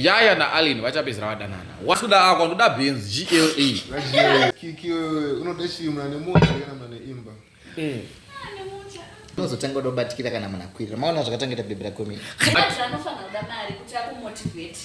yaya naalin vachapedzera vadanana wasuda ako ndoda benzi glaunozotenga udobatikira kana munhu akwirira maona zvakatangeta bhebhi rakomii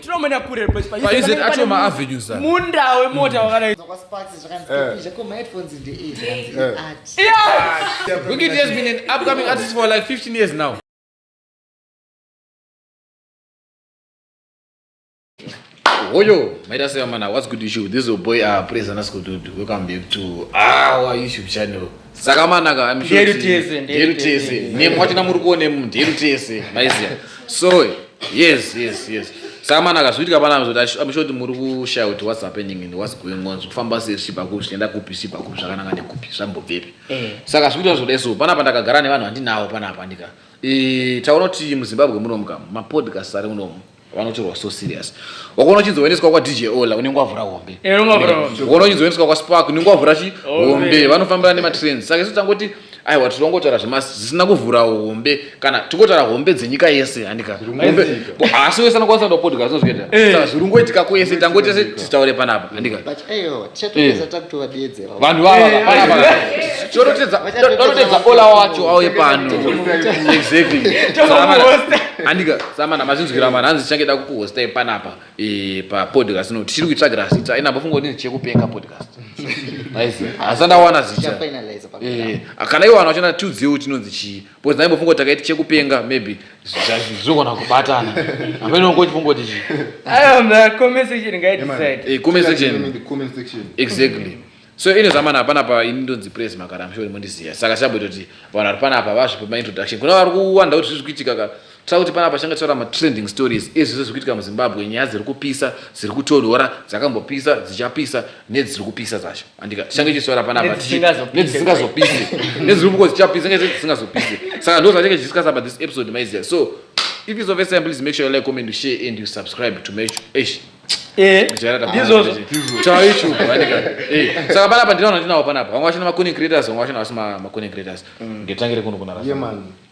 tinomena kure paizvaacho maavenues munda wemota mm. wakadaiwikit eh. eh. has been an upcoming artist for like 15 years now Hoyo, Maida Sayamana, what's good with you? This is your boy, uh, Praise and Asko Dude. Welcome back to our YouTube channel. Sakamanaka, I'm sure. Deru Tese, Deru Tese. Name what na muri kuone mu Deru Tese. Maizia. So, yes, yes, yes. Sakamanaka, zviri kapana mzoti, I'm sure muri kushaya kuti what's happening and what's going on. Zvokufamba sei zvichipa kupi, zvichienda kupi, zvichipa kupi, zvakananga nekupi, zvambobvepi. Eh. Saka zvikuita zvoda so, panapa ndakagara nevanhu vandinawo panapa ndika. Eh, taona kuti muZimbabwe munomu kam, mapodcast ari munomu. vanotorwa so serious wakaona uchinzoendeswa kwadj ola unenge wavhura hombe wakaona uchinzoendeswa kwaspark unenge wavhura chi hombe vanofambira nematrends saka isu tangoti aiwa tiri kungotaura zvemasi zvisina kuvhura hombe kana tingotaura hombe dzenyika yese handika asi wese anokwanisa kuda podcast zvinozviita eh. saka zviri kungoitika kwese tangoti tese titaure panapa handika eh. vanhu vava eh, panapa eh, eh. chorotedza chorotedza ola wacho auye pano exactly andika samana mazvinzwira mwana hanzi change da kukuhosta panapa pa podcast no tichiri kuitsvagira zita ina bofunga kuti chekupenga podcast asi ndawana zita kana iwana wachona tiudziwe kuti inonzi chii Because naibo fungo takaiti chekupenga maybe zvogona kubatana. Amene ungo chifungo tichi. Ayo mna comment section ngai decide. Eh comment section. The comment section. Exactly. So ine zamana hapana pa ini ndonzi praise makara mshori mondiziya. Saka chabwe toti vanhu vari pana apa vazvipa introduction. Kuna vari kuwanda kuti zviri kuitika ka. Tava kuti panapa tichanga tichitaura matrending stories ezvese zviri kuitika muzimbabwe nyaya dziri kupisa dziri kutonhora dzakambopisa dzichapisa nedziri kupisa dzacho andika tichange tichitaura panapa nedzisingazopisi nedziri kuko dzichapisa nge dzisingazopisi saka ndo zvatinge tichiskasa pa this episode maiziya so if is of first time please make sure you like comment share and you subscribe to make eish eh, ndizvozvo chaicho andika eh, saka panapa ndinaona ndinawo panapa vanga vachina maconing creators vanga vachina vasi maconing creators mm. ngetangire kuno kunarasa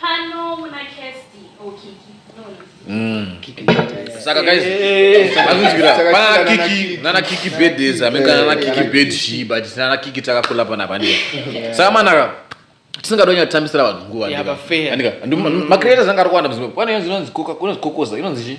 Pano muna Kirsty or Kiki? No, no. Mm. Saka guys, makunzwira pana Kiki nana Kiki bed is ameka nana Kiki bed she but nana Kiki takakula pana pande. Saka manaka tisingadonye kutambisira vanhu nguva. Yaba fair. Andika. Makreators anga ari kuwanda muzimwe. Pane inonzi koka, kunonzi kokoza, inonzi chi?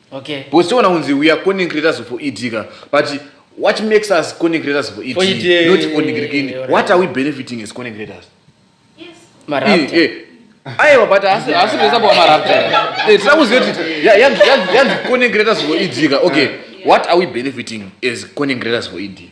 Okay. Because tiona kunzi we are content creators for ED ka but what makes us content creators for ED, For ED, eh, not for eh, eh, Nigirikini? alright. What are we benefiting as content creators? Eh, Marapta. eh. Aiwa but asi asi kuisa kwa marapta. Eh tira kuziva kuti ya- yanzi yanzi- yanzi content creators for ED ka. Okay. What are we benefiting as content creators for ED?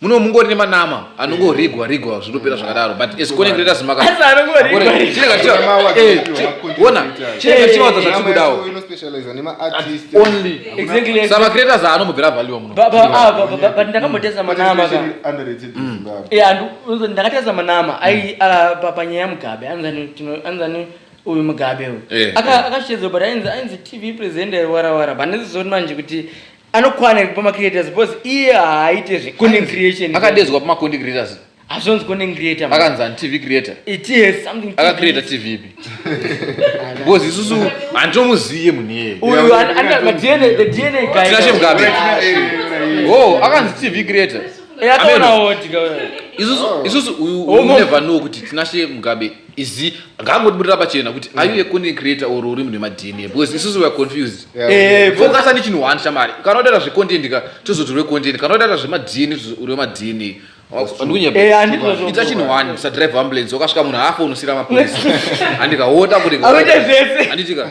muno mungori nemanama anongorigwa rigwa zvinopera zvakadaro but as connect let us maka Asi anongorigwa rigwa. ona chinenge chichiwanza zvatiri kudawo Only. Exactly, exactly. sama creators aanombobvira value muno Ba- ba- ah, ba- ba- ba- but ndakambotesa manama ka Eh, andu- unzo- ndakatesa manama ai ah, pa- panyaya yamugabe anzani tino- anzani uyu mugabe uyu Eh, Aka- akashedzwa but ainzi ainzi tv presenter warawara but ndizozoti manje kuti anokwana iri pama creators because iye haaite zvecontent creation akadezwa pama content creators hazvonzi content creator akanzi ani tv creator it is something akacreata tv ipi because isusu handitomuziye munhu iyeye uyu anatinache mugabe o akanzi tv creator yakaonawo tika isusu uyu oh, never know kuti tinashe mugabe izi ngaangotiburira pachena kuti are you a content creator or uri munhu wemadna because isusu weare confused Yeah, Eh, because- focus ane chinhu one shamari kana udaira zvecontent ka tozoti uri wecontent kana udaira zvemadna tozoti uri wemadna Eh, handiti ndozvo- ita chinhu one usadrive ambulance wakasvika munhu afa unosira mapurisa handika wota kuti Anoita zvese. handitika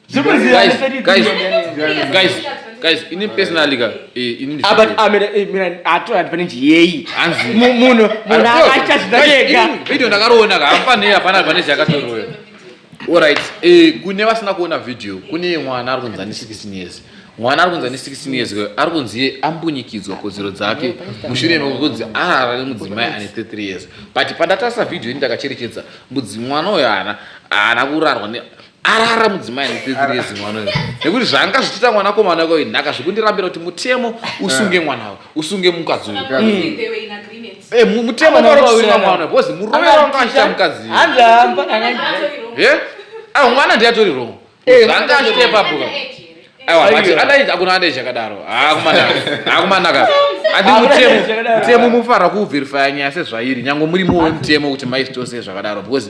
guys ini personally ka eh, ini ah, but amira ah, eh, mira ato ah, advantage yeyi hanzi munhu munhu akaita zvinodega video ndakaroona ka hapana yeye hapana advantage yakatoroyo alright eh kune vasina kuona video kune mwana ari kunzani 16 years mwana ari kunzi ane 16 years kwayo ari kunzi iye ambunyikidzwa kodzero dzake mushure mekunzi arara nemudzimai ane 33 years but pandatarisa vhidhiyo ini ndakacherechedza mudzi mwana uyo haana haana kurarwa arara mudzimai anepepiri yezimwana uyo nekuti zvaanga zvichiita mwana komana wake uyu nhaka zvikundirambira kuti mutemo usunge mwana uyu usunge mukadzi uyu Eh, mutemo unosunga mwana because murume wanga achita mukadzi eh? ah, mwana ndiye atori wrong eh, zvanga achite pabuka aiwa but anaita akuna andeje akadaro haakumanaka ah, haakumanaka ah, andi mutemo mutemo mufanira kuverifya nyaya sezvairi nyange muri muwe mutemo kuti maistose zvakadaro because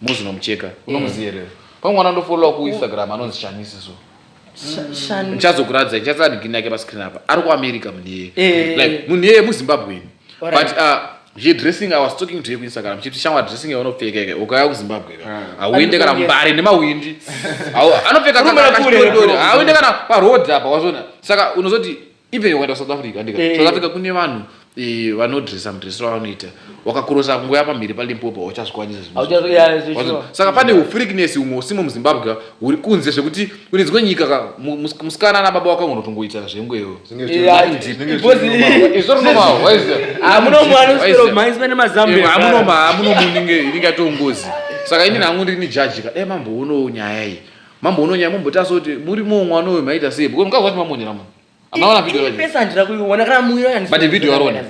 Mozi nomucheka. Eh. Unomuziva here? Pamwe mwana ndofollowa ku Instagram anonzi Shanisi so. Shani. Ndichazokuratidza ndichatsara ndikini yake pa screen apa. Ari ku America munhu iyeye. Eh. Like munhu iyeye mu Zimbabwean. Alright. But uh, zve dressing i was talking to you ku Instagram chiti shamwa dressing yaunopfeka yake ukauya ku Zimbabwe ka. Ah. Hauende kana mbare nemawindi. Hau- Anopfeka Rumela kaka kule, kachidori-dori. rumela kule. Hauende kana pa road apa wazviona. Saka unozoti even ukaenda south africa andika eh. south africa kune vanhu eh, vanodresa mudresero avanoita wakakurosa kungo ya pamhiri palimpopo hauchazvikwanisasaka pane ufrikness umwe usimo muzimbabwe uri kunze zvekuti kune dzimwe nyika ka musikana ana baba wako unotongoita zvenguewo amunomamunomuninge inenge yatongozi saka ini nangu ndiri ni jaji ka dai eh, mamboonoo nyaya iyi Mambo unonya mambo taso kuti muri mumwe ano uyu maita sei because mukazwa kuti mamonyera munhu amaona video yacho pesa ndira kuiona kana muyo yani but video yarona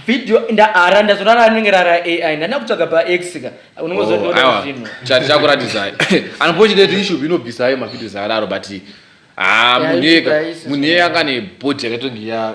video ndaara ndazona ra anenge ra AI ndana kutsvaga pa X ka unongozo oh, ndona zvino chat chako ratidza unfortunately issue bino bisa ayo ma videos araro but ah muneka muneka kana body yakatongi ya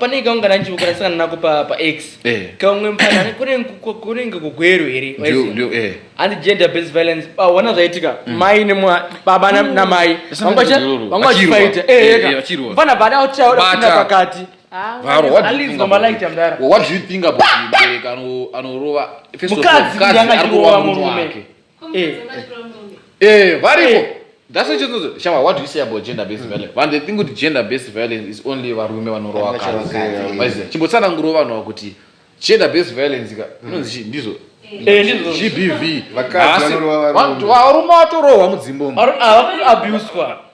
pane kaungana ndichivokorasangana nako pax eh. kaumwe mupana kunenge kugweru here eh. andi gender based violence paona ah, zvaitika mm. mai baba mm. namai vanga vachifaita mfana eh, bada kutiaodaina pakati ah, mukadzi yanga chirowa murume Eh, eh, variko eh. that's what you shama what do you say about gender based mm. violence vanhu think kuti gender based violence is only varume vanorowa vakadzi chimbotsanangurawo vanhu ava kuti gender based violence ka mm. inonzi chii ndizvo gbv varume vatorohwa mudzimbomo ah,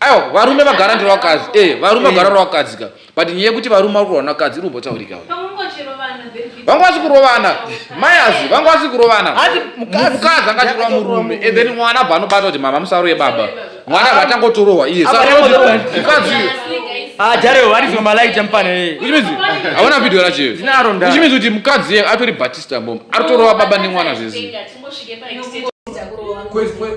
Ayo varume vagara ndiro vakadzi. Eh, varume vagara ndiro vakadzi ka. But nyaya yekuti varume vari kurovana vakadzi iri kumbotaurika uyu. Vanga vasi kurovana. Mai azi vanga vasi kurovana. Hanzi mukadzi mukadzi anga achirova murume. And then mwana abva anobata kuti mama musaroye baba. Mwana abva atangotorohwa iye. Saka mukadzi Ah, Jarewo vari zvimwe malaiti amupana iye. Which means hauna video racho iye. Ndinaro nda. Which means kuti mukadzi iye atori Batista mom. Aritorova baba nemwana zvese. Kwezi kwezi.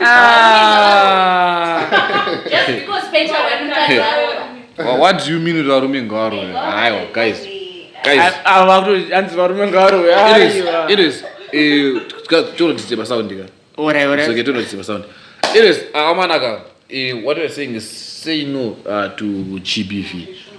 Ah. Just because Peter went to Kazaroba. Wha- what do you mean kuti varume ngavarove haiwa guys guys A- ava vakuto- hanzi varume ngavarove it is it is eh, tika- tonotidzira pasaundi ka orai orai so getting to sound it is amanaka uh, what we're saying is say no uh, to gbv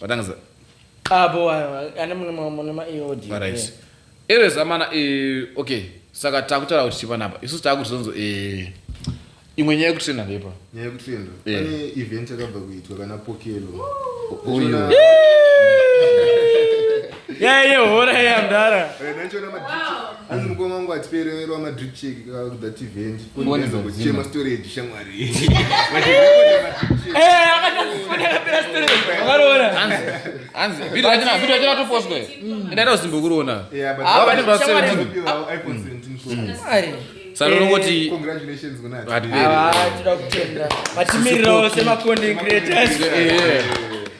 Vatangiza. Abo ane mune mune ma EOD. Right. Erez amana eh okay. Saka takutaura kuti chipa napa. Isu takuti zonzo eh imwe nyaya yekutrenda ndepa. Nyaya yekutrenda. Yeah. Pane event yakabva kuitwa kana Pokelo. Uyo. Yeah. yaiye hora yaiya mdara hanzi mukoma wangu atipereverwa madrip check kuda tivent kuchema storage shamwari ndaita usimbokuroona sanonongoti vatimirirawo semacontent creators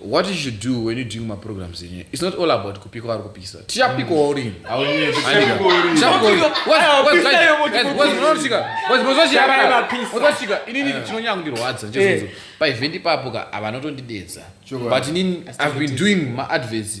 what you should do when you doing my programs in here, it's not all about kupika or kupisa. Tia piko or in. I will need to piko or in. Tia piko or in. What's what's like? What's not chica? What's what's chica? What's what's chica? Ini ini chino nyangu ndiro wadza. Just so. Pa event papo ka avanoto ndidedza. But ini I've been doing my adverts.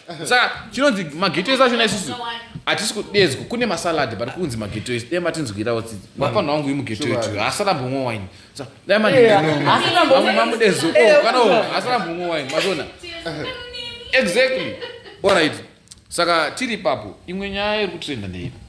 saka chinonzi mageto ese achona isusu hatisi kudedzwa kune masaladi but kunzi mageto ese dai matinzwirawo tsitsi mafanha wangu imugeto yetu haasarambomwa waini dai mamudezo kana haasarambomwa waini mazona exactly orit saka tiri ipapo imwe nyaya iri kutrenda ndeipa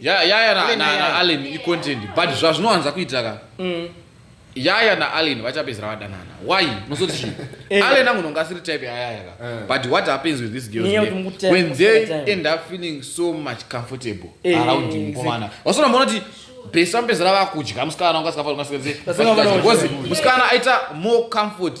yaya ya, ya, na, na, na allen icontent but zvazvinowanza kuita ka mm. yaya naallen vachapedzera vadanana why unozoti chii eh. allen angu nonga asiri type yayaya ka eh. but what happens with this girl when they end up feeling so much comfortable eh, around mukomana wasona mona kuti besa mpezera vakudya musikana ungasikafaa musikana aita more comfort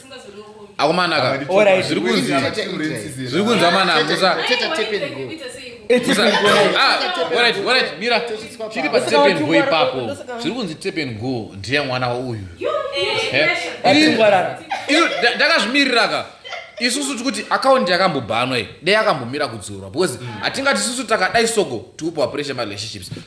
akomana ka Alright. zviri kunzi zviri kunzi amana musa Teta tape and go. It's musa even going. ah alright alright mira Tosvitswa chiri pa Ndosaka tape and go wachingwara- ipapo ndosaka- zviri kunzi tape and go ndiye mwana wauyu Achingwarara. Iyo, nda- ndakazvimirira ka isusu tikuti akaundi yakambobhanwa iyi dei akambomira kudzorwa because hatingati isusu takadai soko tikupiwa pressure marelationships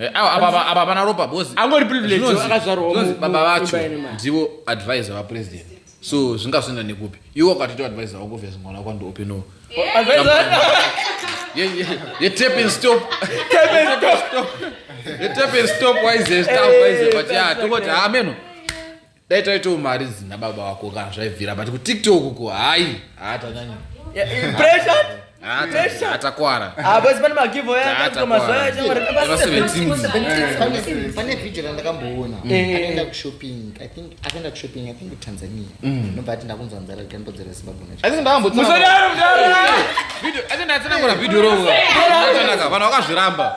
Eh, apa pana ropa bozi angori privilegeakazvarwababa vacho ndivo advisor vapresident so zvingazoenda nekupi iwo ukatoita advisor wako vya zimwana wako ndiopenoo yetapenstop waize staff waize but ya tokoti hameno dai taitawo mari dzina baba vako kana zvaibvira but kutiktok ko hayi haatanyanya atakwara pane vhidhio randakamboona mm. eh. akaenda kushopping i think akaenda kushopping i think tanzania mm. nobva ati ndakunzwa nzara rikambodzera zimbabwe nachoatinatsanangura vhidhio rovo vanhu vakazviramba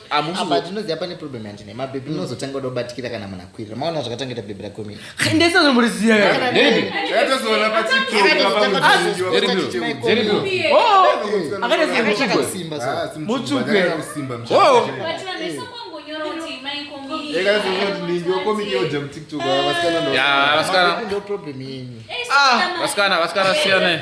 apa ndinoziva pane problem yandine mabhebhi mm. munozotanga kuda kubatikira kana munhu akwirira maona zvakatangita bhebhi rakomii vasikana vasikana siyane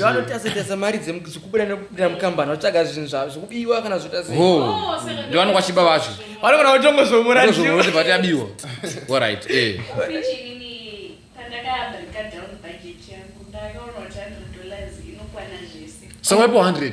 vanotazitesa mari dzekubuda nekupinda mukambani vatsvaga zvinhu zvavo zvekubiwa kana zvotaanokwa chiba vacho vanogona kutongozomurati vati abiwa orit eh. sawaipo 100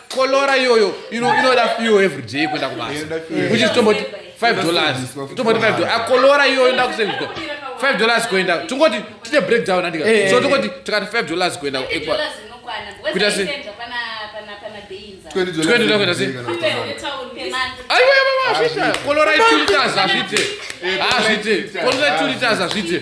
kolora iyoyo inoda fiyo every day kuenda kubasa which is tomboti five dollars tomboti five dollars akolora iyoyo inoda kuseviswa five dollars kuenda tingoti tine breakdown andika eh, so eh, tingoti eh. tikati five dollars kuenda ekwa kuita se aiwaaiwaiwazvita kolora two liters hazvite hazvite kolora two liters hazvite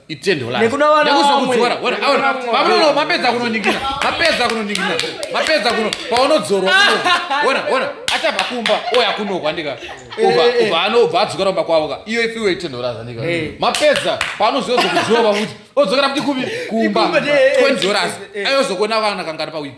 itendholanekunowanamapedza kunoningina mapedza kunoningina mapedza kuno paunodzorwa ona ona achabva kumba oya kunohwa ndika ubva eh, eh. anobva adzokera kumba kwavo ka iyo ifiwe itendhoraza ndika eh. mapedza paanozozo kudzova kuti odzokera kuti kubi kumba twendoras ayozokuona kana kangari pawiki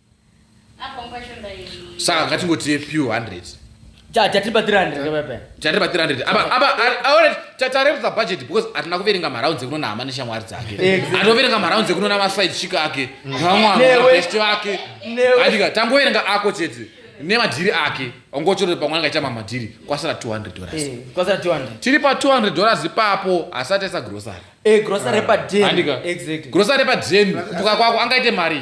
saka ngatingotiye few hundred chatipa 300 chatipa 300 apa apa aone tatarerutsa budget because atina kuverenga marounds ekuno nahama neshamwari dzake anoverenga marounds ekuno namaside chick ake navamwabest vake andika tangoverenga ako chete nemadhiri ake ongochorore pamwe anga ichama madhiri kwasara 200 dollars eh, kwasara 200 tiri pa 200 dollars ipapo asati esa grocery eh grocery pa den exactly grocery pa den kuka kwako angaite mari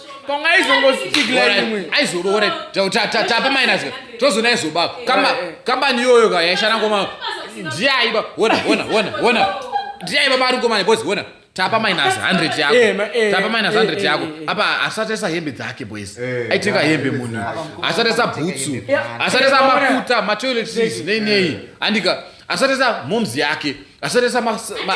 tapa minus tozoona aizoba kambani iyoyo ka yaishana ngoma ndiye aiba ona ona ona ona ndiye aiba mari ngomani boys ona tapa minus 100 yako eh, eh, tapa minus 100 eh, yako apa asatesa hembe dzake boys aitenga hembe munhu asatesa bhutsu asatesa mafuta matoilet seats nei nei andika asatesa momzi yake asatesa ma, ma,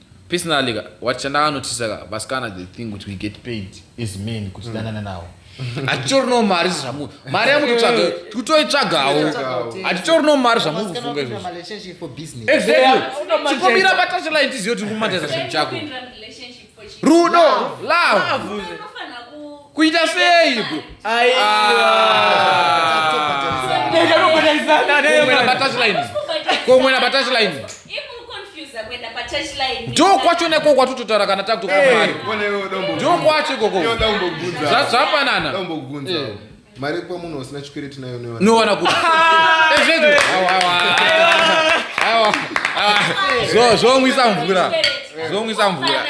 Personally ka what chandaka notice ka vasikana they think kuti we get paid as men kuti danana nawo. Hatitori no mari zvamu mari yamutotsvaga tikutoitsvagawo. Hatitori no mari zvamukufunga izvozvo. Relationship for business. Exactly. Chikomira pa touchline tiziyo tiri kumataiza chinhu chako. Rudo, love. Love. Unofanira ku kuita sei bro komwena patashline ndo kwacho neko kwatototaura kana takutokwamari ndo kwacho ikoko zvapanana mari kwa munhu usina chikwere tinayo newa nowana kuti ezvedu zvomwisa mvura zvomwisa mvura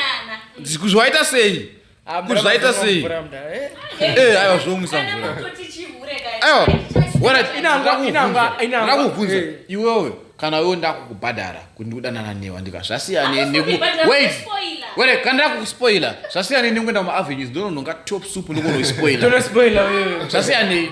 zvaita sei kuti zvaita sei eh aiwa zvounisa mvura aiwa warakuvhunza eh. iwewe kana wewe ndakukubhadhara kuti ndikudanana newa ndika zvasiyane nekuwait were kana ndakukuspoila zvasiyane nekuenda mumavenues ndonononga top soup ndokonoispoila zvasiyanei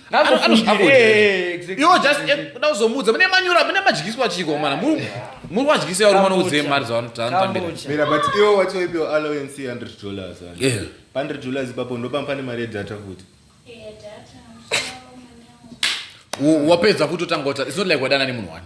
iwo just kuda kuzomuudza mune manyura mune madyiswa chiko mana muri wadyisa varume vanoudze mari dzavanotanambira but iwo watoipiwa allowance 100 dollars 100 dollars ipapo ndopam pane mari yedata futi wapedza futi otanga ota it's not like wadana nemunhu wani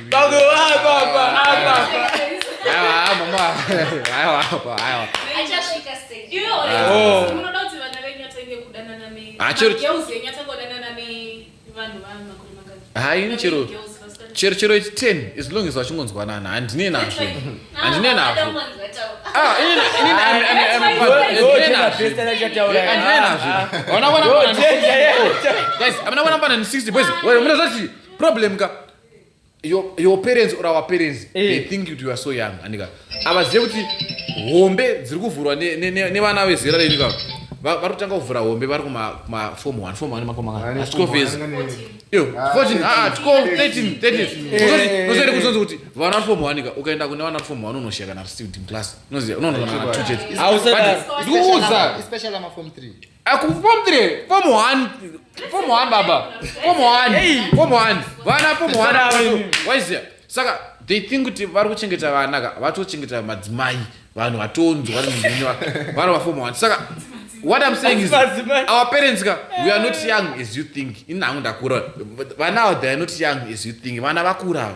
haini chero chero chero ichi ten as long as vachingonzwanana handine nazvo handine nazvo munozoti problem ka your, your parents or our parents hey. they eh. think you are so young andika avazive kuti hombe dziri kuvhurwa nevana ne, ne, vezera renyu ka vari kutanga kuvhura hombe vari kumafom one fom one makomaascovezi iyo fourteen aa twelve thirteen thirteen unozoita kuti unonzi kuti vana vari fom one ka ukaenda kune vana vari fom one unoshaya kana vari student in class unoziva unonoana two chete ndikuudza Akupombire form 1 form 1 baba form 1 form 1 vana form 1 waizia saka they think kuti vari kuchengeta vana ka vatochengeta madzimai vanhu vatonzwa nemunywa vana vaform 1 saka what i'm saying is our parents ka we are not young as you think ini hangu ndakura vana ava they are not young as you think vana vakura ava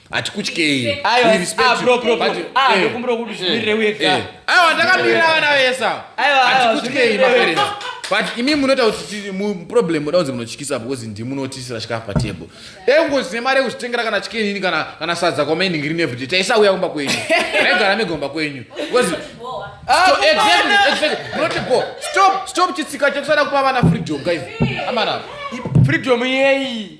hatikutyei We aiwa respect ah, you. bro bro bro But, ah eh, ndokumbira kuti zvimirire uye eh. ka aiwa ndakamirira vana vese ava Aiwa, aiwa, hatikutyei zvimene- maparents but imi munoita kuti ti- mu- problem muda kunzi munotyisa because ndimunotisira chikafu patable dai kungozine mari yekuzvitengera kana chicken ini kana kana sadza kwamaending rini everyday taisauya kumba kwenyu raigara mega kumba kwenyu because Ah, Stop- kumba exactly, ana- exactly. Munoti go. Stop, stop chitsika chekusada kupa vana freedom guys amana freedom yeyi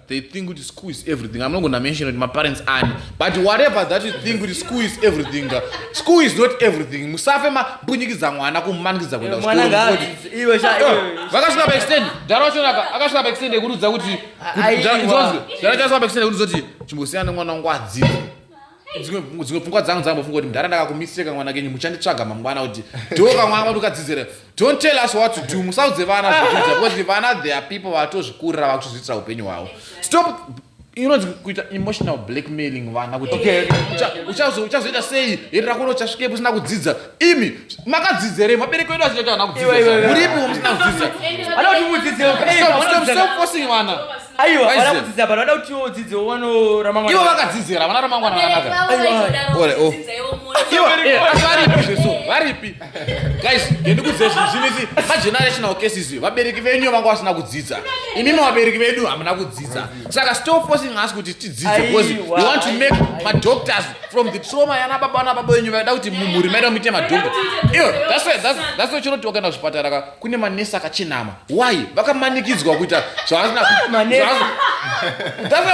they think kuti school is everything i'm not gonna mention kuti maparents ani but whatever that you think kuti school is everything school is not everything musafe mabunyikidza mwana kumumanikidza kuenda vakasvika paextend dhara wacho akasvika paextend yekuudza kuti dhara chasvika paextend yekuudza kuti chimbosiyana nemwana wangu adzidze dzimwe dzimwe pfungwa dzangu dzambofunga kuti mdhara ndakakumiseka mwana kenyu muchanditsvaga mangwana kuti dhoka mwana vanhu ukadzidzira don't tell us what to do musaudze vana zvekuita because vana they are people vatozvikurira vakutozviitira upenyu hwavo stop inonzi kuita emotional blackmailing vana kuti uchazoita sei herera kuno uchasvikepo usina kudzidza imi makadzidza here mabereko edu achiita kuti ana kudzidza muripi musina kudzidza stop forcing vana Aiwa, Why is vana it? kudzidza bado vada kuti udzidze uono ramangwana. ivo vakadzidzira havana ramangwana Vabereki rakanaka vavo vaitodaro Ore, oh. kudzidza ivo mwana. Ivo, eh, asi varipi zvesu varipi guys gendikudzei zvinhu zvinisi magenerational cases iyo vabereki venyu vanga vasina kudzidza imimi vabereki vedu hamuna kudzidza saka stop forcing us kuti tidzidze because you Aiwa, want to make aiwa. madoctors from the trauma yana baba vana baba venyu vaida kuti mumhuri maida muite madoctor iyo that's why- that's- that's why chinoti wakaenda kuzvipatara ka kune manesi akachenama why vakamanikidzwa kuita zvavasina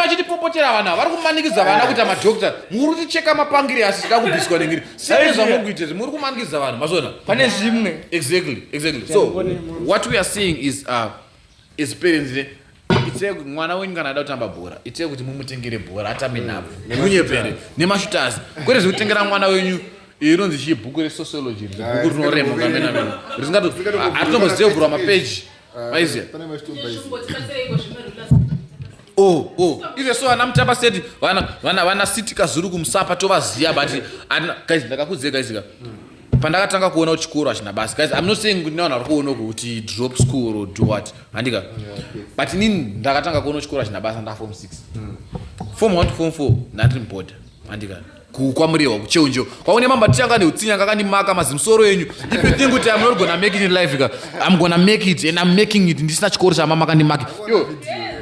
vachitipopotera vana vari kumanikidza vana kuita madokta muri kuticheka mapangire asi tida kubviswa nengiri sei zvamuri kuita izvi muri kumanikidza vanhu mazona pane zvimwe exactly exactly so what we are seeing is uh, as parents ne itsei kuti mwana wenyu kana ada kutamba bhora itsei kuti mumutengere bhora atambe mm. nhabvu nekunyepere nemashutazi kwete zvekutengera mwana wenyu inonzi chii bhuku resociology bhuku rinorema kamenamena risingaatombozii kuvhurwa mapeji maiziya oh oh ive so ana mutamba seti vana vana vana sitika zuru kumusapa tovaziya but guys ndakakudzei guys ka mm. pandakatanga kuona kuti chikoro hachina basa guys i'm not saying kuti nevanhu vari kuona kuti drop school or do what handika but inini ndakatanga kuona chikoro hachina basa ndafom 6 hmm. fom 1 to fom 4 ndandiri muboda handika kukwamuriwa kucheunjo kwaune mamba tichanga neutsinya kakandimaka mazimsoro enyu if you think kuti i'm not gonna make it in life ka i'm gonna make it and i'm making it ndisina chikoro chamama kandimaki yo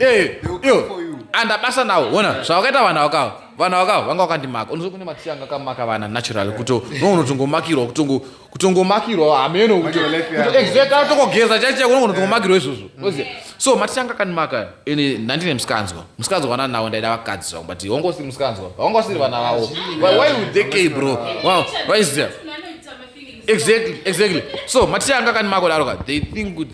yo yo andabasa nawo ona zvavakaita vanhu avakawa vana vaka vanga vakandimaka unozo kune maticha anga akamaka vana natural kuto no unotongomakirwa kutongo kutongomakirwa hameno kuto exact atokogeza chaicha kuno unotongomakirwa izvozvo oziva so maticha anga akandimaka ende ndandine musikanzwa musikanzwa wana nawo ndaida vakadzi zvangu but wanga usiri musikanzwa wanga usiri vana vavo why would they care bro wow why is that exactly exactly so maticha anga akandimaka kudaro ka they think kuti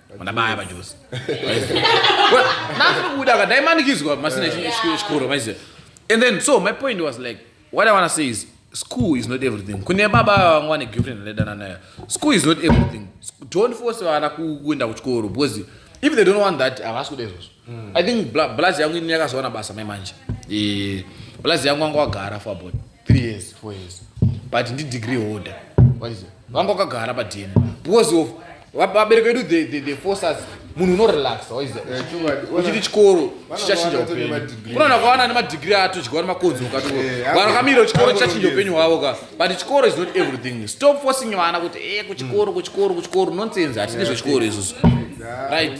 Mandabaya pajuzi. Nothing kuda ka dai manikizwa masina chikoro maiziva. And then so my point was like what I want to say is school is not everything kune baba vangu vane girlfriend anodana nayo school is not everything don't force vana kuenda kuchikoro because if they don't want that havasi kuda izvozvo hmm. i think blaz yangu ini yakazowana basa mai manje eh, blaz yangu vanga wagara for about three years four years but ndidegree holder vanga wakagara padn because of vabereki vedu the, the, the forces munhu unorelaxa uchiti chikoro chichachinja upenyu unoona kwawana nemadigiri atodyiwa nemakonzi ukati vanhu kamiro chikoro chichachinja upenyu hwavo ka but chikoro is not everything stop forcing vana kuti e kuchikoro kuchikoro kuchikoro nonsense hatidi zvechikoro izvozvo right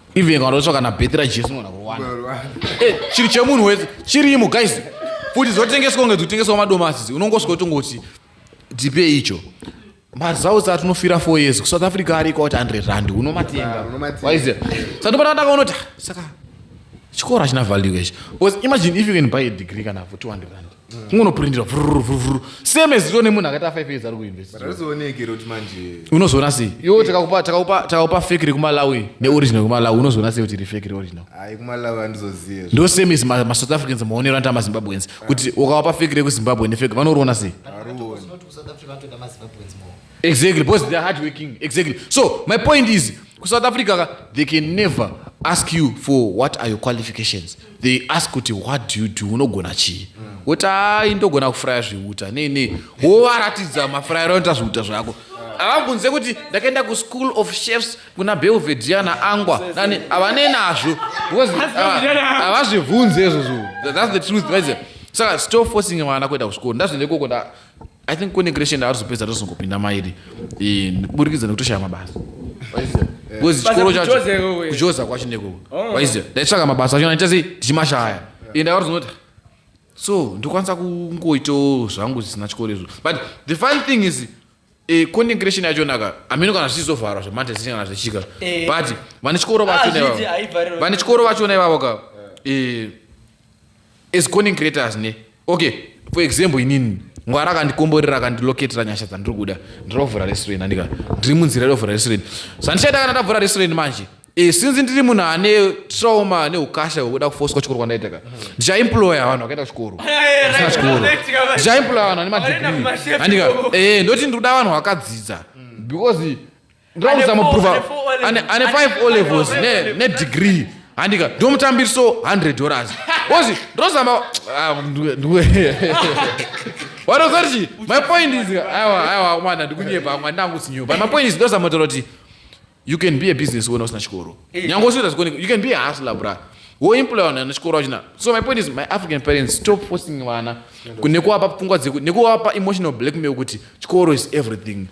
even kanotsva kana bheti rajesu unogona kuwana eh, chiri chemunhu wese chirimo guys futi dzotengeswa kunge dzotengeswa madomasi unongosvika utongoti ndipei icho maresults atinofira four years kusouth africa ariko kuti 100 rand unomatenga waiziva satopana ndakaonoti ah, saka chikoro hachina value ichi because imagine if you can buy a degree kana for 200 rand kungonopurindira vhururuvhuruvhuru same as ione munhu akaita five years ari kuuniversityunozoona sei iwo takakupa fake rekumalawi neoriginal kumalawi unozoona sei kuti iri fake reoriginal ndo same as masouth africans maonero anoita mazimbabweans kuti ukawapa fake rekuzimbabwe nefake vanoriona sei South Africa, not South Africa, not the Zimbabweans more. exactly because they're hard working exactly so my point is ku south africa ka they can never ask you for what are your qualifications they ask kuti what do you do unogona chii woti ai ndogona kufuraya zviuta nei nei wovaratidza mafurayiro anoita zviuta zvako avambunze kuti ndakaenda kuschool of chefs kuna belvedia naangwa nani havane nazvo because havazvibvunze izvozvo thats the truth saka stop forcing vana kuenda kuchikoro ndazvienda ikoko i think kune creation arizopedza tozongopinda mairi burikidza nekutoshaya mabasa because chikoro chacho kujoza kwacho nekoko oh. waiziva ndaitsvaka mabasa acho ndaichasei tichimashaya and akarizonoti so ndokwanisa kungoitawo zvangu zvisina chikoro izvo but the fun thing is eh, content creation yacho naka amino kana zvichizovharwa zvematesiti kana zvichika eh. but vane chikoro vachona ah, ivavo vane chikoro vachona ivavo ka eh, as content creators ne okay for example inini ngwara akandikomborera akandiloketera nyasha dzandiri kuda ndirovhura restaurant andika ndiri munzira irovhura restaurant zvandichaita kana ndavhura restaurant manje e, since ndiri munhu ane trauma ane ukasha wekuda kufoswa chikoro kwandaita ka ndichaimploya vanhu vakaita chikoro asina chikoro ndichaimploya vanhu ane madegree andika e, ndoti ndikuda vanhu vakadzidza because ndirakuzamuprova ane 5 o levels nedegree handika ndomutambiriso 100 dollars ozi ndozama ah, wanozoti my point is aiwa aiwa mwana ndikunyepa mwana ndangu sinyepa my point is ndozamotaura kuti you can be a business wena usina chikoro eh. nyange usiita zikuoneka you can be a hustler bra woemploya vanhu vana chikoro vachina so my point is my african parents stop forcing vana nekuwapa pfungwa dzeku nekuwapa emotional blackmail kuti chikoro is everything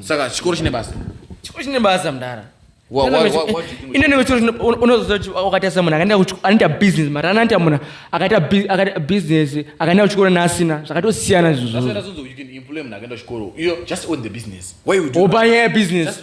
saka chikoro chine basa chikoro chine basa mdara unozoakaita munhu anoita business mari anoita munhu akaita business akaenda kuchikoro naasina zvakatosiyana izvozvoopanyaya business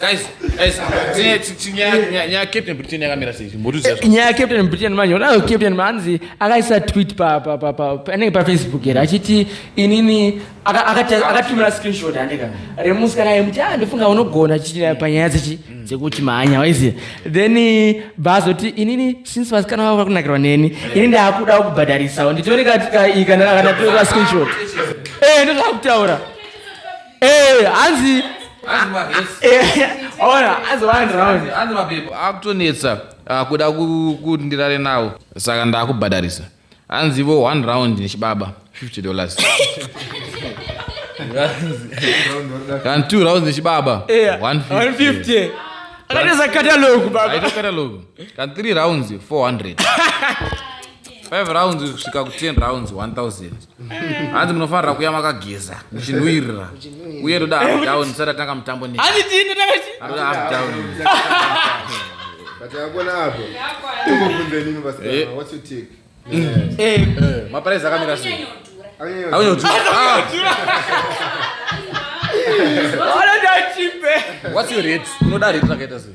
Guys, guys, tine chi- chi- nyaya nyaya- nyaya Captain Britain yakamira sei? Mbotiudza zve. nyaya yecaptain britain manje unayo captain manzi akaisa tweet pa- pa- pa- pa- panenge pafacebook here achiti inini aka- akata- akatumira screenshot andika remusi kana yemuti a ndofunga unogona chichira panyaya dzechi dzekuti mhanya waiziva then eh, baazoti inini since vasikana vavo vakunakirwa neni ini ndaakudawo kubhadharisawo nditore katika iyi kana kana ndatora screenshot eh ndozvaakutaura Eh, hanzi akutonetsa akuda kuti ndirare nawo saka ndakubhadharisa hanzivo one round nechibaba 50 dollars kana two rounds nechibaba 150 akatoza katalogu baba katalogu kana three rounds 400 5 rounds kusvika ku 10 rounds 1000 hanzi munofanira kuya makageza muchinhuirira uye toda half down tisati atanga mutambo ne anoda half down maparaisi akamira sei aunyotuaanoda chipe what's your rate unoda rate rakaita sei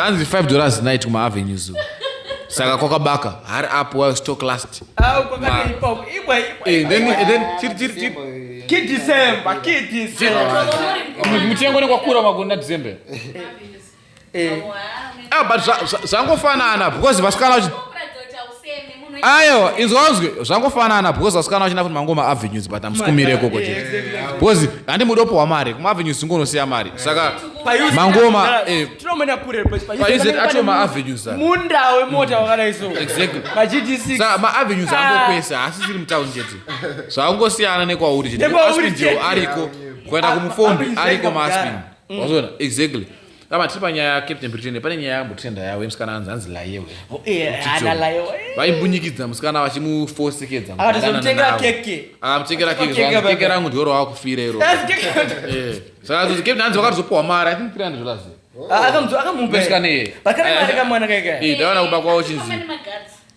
hanzi 5 dollars night kumaavenue zoo saka kwakabaka hari up while stock last mutengo nekwakura magona december eh. ah, but zvangofanana because vasikana vachi ayo inzwanzwe zvangofanana because vasikana vachina kuti mangoma avenues but amusikumire ikoko eh, chete because handi mudopo wamari kumaavenues tingonosiya mari saka mangoma eh, acho maavenues munda wemota mm. wakadai so exactly saka maavenues ango ah. kwese haasi ziri mutown chete zvakangosiyana nekwauri chete ariko kuenda kumufombi ariko maaspin mm. wazoona exactly kama tiri panyaya yacaptain britain pane nyaya yambotenda yawe musikana anzi anzi layewe oh, eh, vaimbunyikidza musikana vachimufosekedza akamutengera keke keke rangu ndioro wakufira iro eh, saka zozi captain anzi vakatozopuwa mari i think 300 dollars ah, akamupeisikana iye ndaona kumba kwavo chinzi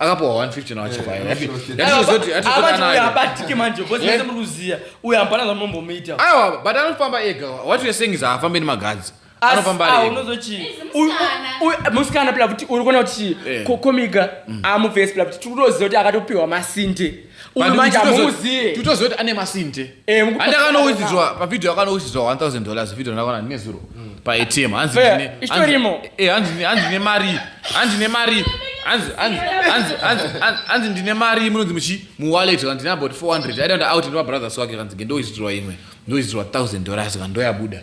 akapuwa 150 nawo chivhayo Eh, Yati- shoshe. yati zvozoti- yati Ava zvozoti ndiye anayo. abatike manje because mese muri kuziya uyu hapana zvamunombomuita aiwa but anofamba ega what you're saying is haafambe nemagadzi Asi- anofamba ah, ari ega unozoti chii? Izi Uyu- musikana. uyu- uyu- musikana pila kuti uri kuona kuti chii? Eh. Ko- komiga amuvesi pila kuti tiri kutoziva kuti akatopiwa masinde Uyu manje amuziye. Tutozoti ane masinte. Eh, Andakanowizidzwa pa video akanowizidzwa 1000 dollars video ndakaona ndine zero mm. pa ATM. Hanzi ndine. Isitorimo. Eh, hanzi hanzi ne mari. Hanzi ne mari. Hanzi hanzi hanzi hanzi hanzi ndine mari munonzi muchi mu wallet hanzi ndine about 400. I don't out ndo brothers wake hanzi ndowizidzwa imwe. Ndowizidzwa 1000 dollars kandoyabuda.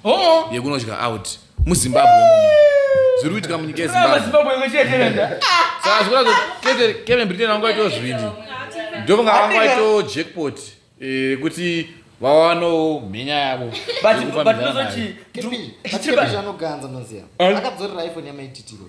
oh. yekunodya out muzimbabwe zviri kuitika munyika yezimbabwe saka zvikuta kuti kevin britain vanga vaitoo zvivindi ndovanga vanga vaitoo jackpot rekuti eh, vawanawo mhenya yavo anoganza maziva akadzorera iphone yamaititiro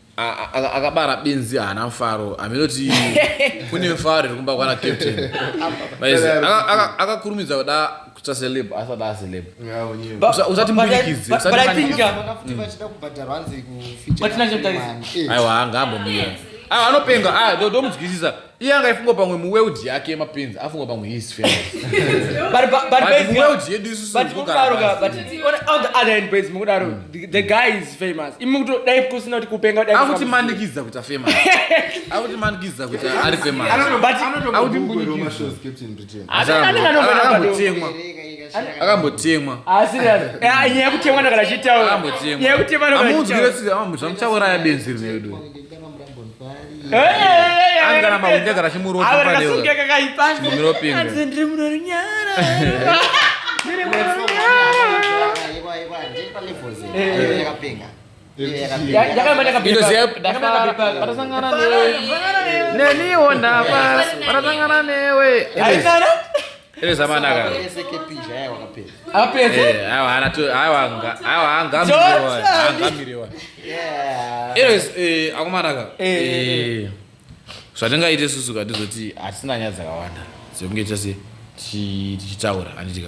akabara benzi haana mfaro hameno ti kune mfaro iri kumba kwana captain akakurumidza kuda kuta celeb asada aceleb usati mudikidzi aiwa ngaambomira aiwa anopenga ah, ndomudzwisisa iye anga ifunga pamwe muweudhi yake yemapenzi afunga pamwe his familymuweudhi yedu isusuotheotherhandbamukudaro mm. the guy is famous imukutodai kusina kuti kupenga akuti manikidza kuti afamous akuti manikidza kuti ari famousanotemwa akambotemwa ah, ah, nyaya yekutemwa ndakadachitaura nyaya yekutemwa ndakadachitaura amuudzire tsika zvamuchauraya benzi rinedu neniwo ndapa patasangana newe evezamanaka aangamirewa anyways eh, akumanaka eh, eh, zvatingaite susu ka ndizoti hatisina nyaya dzakawanda dzekunge tichitaura handitika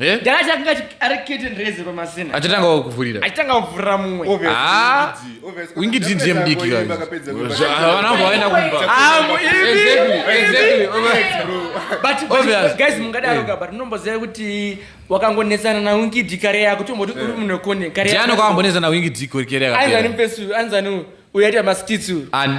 Eh? Garaji akanga ari curtain raiser pamasina. Achitanga kuvhurira. Achitanga kuvhurira mumwe. Ah. Wingi did them big guys. Havana vaenda kumba. Ah, exactly. Exactly. But obvious. Guys mungadaro ka eh. but munomboziva kuti wakangonetsana na Wingi did kare yako tomboti uri eh. munhu wekone kare yako. Jana kwambonetsana na Wingi did kare yako. Anzani mpesu, anzani uyaita maskitsu. Ani.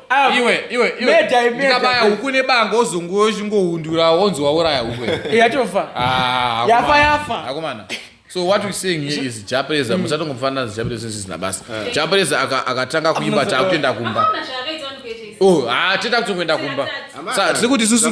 Ah, iwe iwe iwe ndikabaya huku nebango ozongo uchingohundura wonzi wauraya huku yatofa ah, yafa yafa akomana so what we saying here is japreza mm. musatongomufanira zijapreza zvisina basa eh. japreza akatanga kuimba taakutoenda kumba oh ah, haa tienda kutongoenda kumba sa tiri kuti susu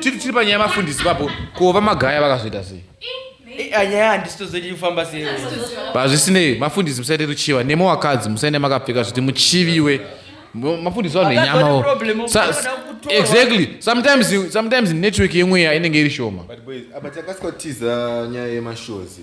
tiri panyaya yemafundisi papo ko vamagaya vakazoita sei hazvisinei mafundisi musaite ruchiva nemo wakadzi musaende makapfeka zviti muchiviwe mafundisi vanhu enyamawo exactly sometimes sometimes network yemweya inenge iri shoma but boys apa takasika tiza nyaya yemashows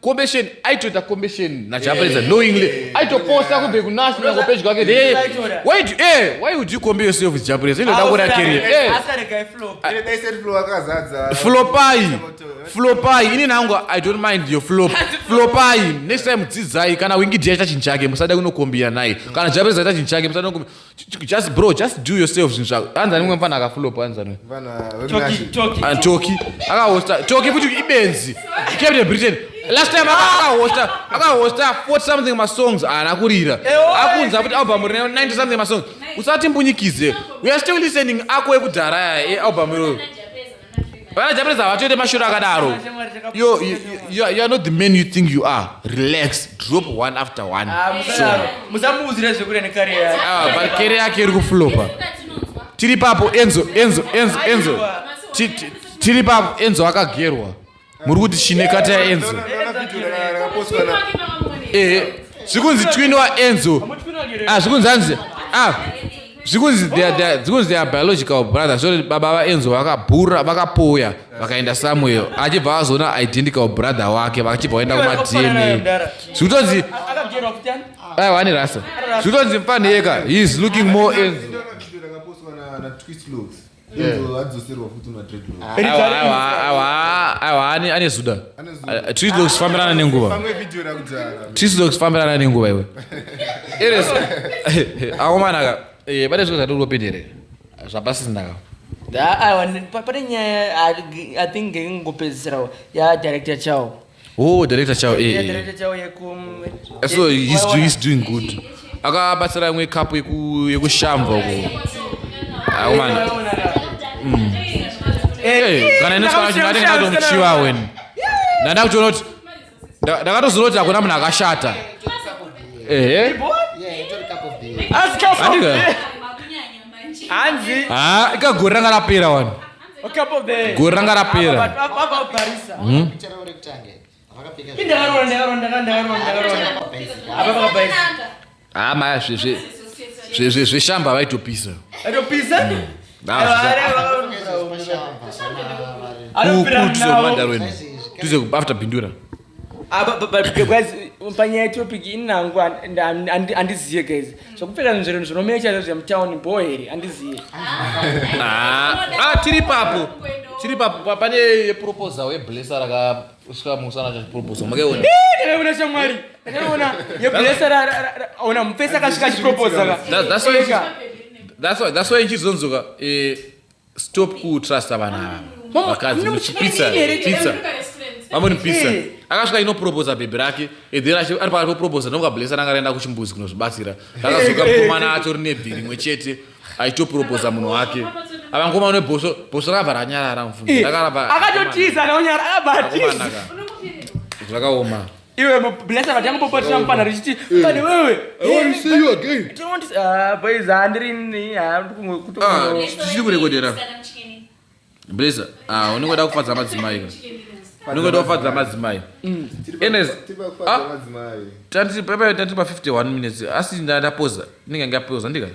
combestion aitoita combestion nachapedza yeah. knowingly aitoposta kunge kunasi nako page kwake eh, why do, eh, why would you compare yourself with japres inoda kura career eh. ah. flopai flopai ini nangu i don't mind your flop flopai next time dzidzai kana wingi dia ita chinhu chake musada kunokombira naye kana japres aita chinhu chake musada kunokombira just bro just do yourself zvinhu zvako anzi anemwe mfana akafulopa anzi anemwe antoki akahosta toki futi ibenzi captain britain last time akahosta akahosta 40 something masongs haana kurira akunza futi album rine 90 something masongs usati mbunyikidze we are still listening ako ekudhara ealbum iroyo Vana Japanese havatoite mashura akadaro. Yo, you, you, you are not the man you think you are. Relax, drop one after one. Ah, Sure. musamuudzire zvekuda nekare yake Ah, but kere yake iri kuflopa. Tiri papo Enzo, Enzo, Enzo, Enzo. Ti- ti- Tiri papo Enzo akagerwa. muri kuti chine kata yaenzo ehe zvikunzi twin waenzo ah, zvikunzi hanzi ah, zvikunzi zvikunzi their biological brother zvoti baba vaenzo vakabhura vakapoya vakaenda samuel achibva vazoona identical brother wake vachibva vaenda kumadna zvikutonzi aiwa ane rasa zvikutonzi mfanheka he is looking more enzo ane zuda trislox fambirana nenguva trislox fambirana nenguva iwe akomanaka eh, pane zviko zvatiri kupinderera zvapasisindaka pane nyaya i think ngekungopedzisira ya director chao Oh, director chao. Eh, eh. Director chao yeku eh, So he's doing, he's doing good. Akabatsira imwe cup yeku yekushamva uko. Ah, man. Mm. Eh, kana ine chikana chingati ngati muchiwa wen. Ndanda kutoona kuti ndakatoziva kuti hakuna munhu akashata. Eh. Andika. Hanzi. Ah, ikagoranga rapera wani. Gore ranga rapera. Hmm? Ah, maya zveshamba vaitopisa. Vaitopisa? Hmm. Kukuti sokumadaro ino. Tuze after bindura. Ah, but, but, but guys, panyaya yetopic ini nangu handizive guys zvakupfeka nzvero zvinomecha zvezve mutown bho here handizive ah, ah, tiri papo tiri papo pane yeproposal yeblesa rakasvika musana chachiproposal makaiona ndakaiona shamwari ndakaiona yeblesa ona mupesa akasvika chiproposal that's why ichizonzoka eh, stop kutrusta vana ava Mama, vakadzi mune muchipisa muchipisa here? here pizza vamwe ni pizza Eh. akasvika inoproposa bhebhi rake edhera ari pakati poproposa ndokablesa nanga raenda kuchimbuzi kunozvibatsira rakazoka mukomana acho rine bhi rimwe chete aitoproposa munhu wake ava ngoma une bhosvo bhosvo rakabva ranyarara mfundo rakarava akatotiza naonyara akabatisa zvakaoma iwe blesa vati yangu popotera mupana richiti pane wewe boys handirini handichiri kurekodera blesa unenge da kufadza madzimai unenge da kufadza madzimai enes tati pepe tati pa 51 minutes asi ndapoza ndinenge ndapoza ndikati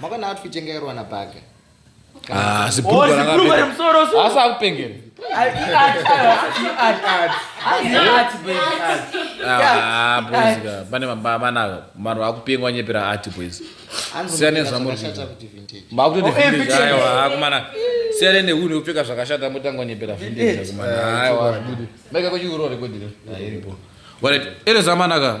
makaona outfit yanga yarwa na baga ah, asi akupengera pane manaka vanhu vakupengwa vanyepera ati boys siyane zvamuriakumana siyane nehunhu yekupfeka zvakashata motanga nyepera vindezvakumanaaiwakuchiurorekodire iripo erezvamanaka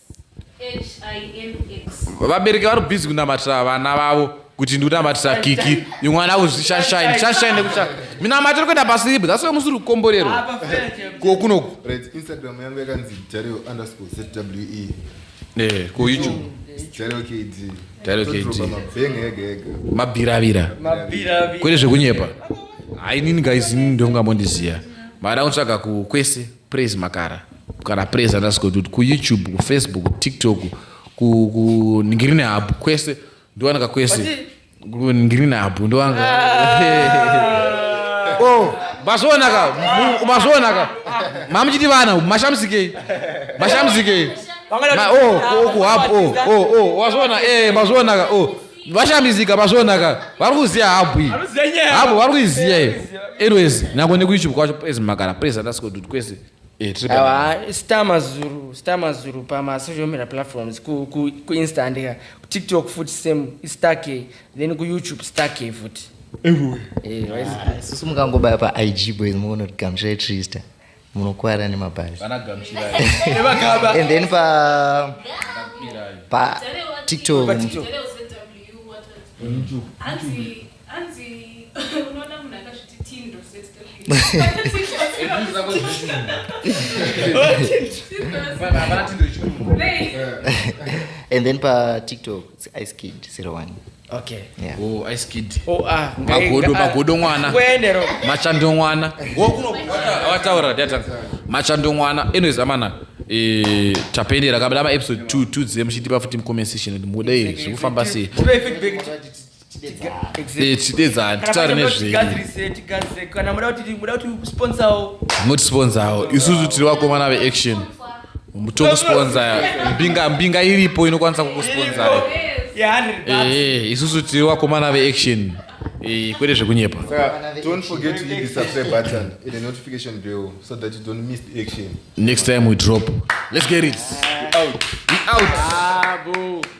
vabereki vari busy kunamatira vana vavo kuti ndikunamatisa kiki imwana kuzvishashine shashine nekutsva mina matiri kuenda pasiibu that's why musiri kukomborerwa ah, ko kunoku instagram yangu yakanzi dario underscore zwe eh ko youtube dario kd dario kd mabiravira kwete zvekunyepa hainini guys ini ndongamondisiya mada kutsvaga kwese praise makara kana praise underscore dude kuyoutube kufacebook kutiktok kuningirine habu kwese ndowanika kwese kuningirine habu ndowanika ah. oh, mazvionaka mazvionaka mamuchiti vana mashamsikei mashamsikei wazvionaka eh, mazvionaka oh, vashambizika mazvionaka vari kuziva habu iyi habu vari kuiziva iyo anyways nako nekuyoutube kwacho praise makara praise underscore dude kwese awa star mazuru star mazuru pamasocial media platforms kuinsta handika kutiktok futi same istar k then kuyoutube star k futi susu mukangobaya paig boys muona kuti gamusha itrista munokwara nemabhazi and then pa pa tiktok Hanzi unoona munhu akazviti teen Rosette and then pa tiktok it's ice kid 01 okay yeah. oh ice kid oh ah magodo magodo mwana kuendero machando mwana ngokuno wataura data machando mwana anyways amana eh tapendera kabla ma episode 2 2 dzemu chitipa futi mu comment section mudei zvekufamba sei tidedzani titaure nezvemotisponsawo isusu tiri vakomana veaction tokusponsa mbinga mbinga iripo inokwanisa kukusponsa eh, isusu tiri vakomana veaction eh, kwete zvekunyepa next time we drop let's get it we out we out ah,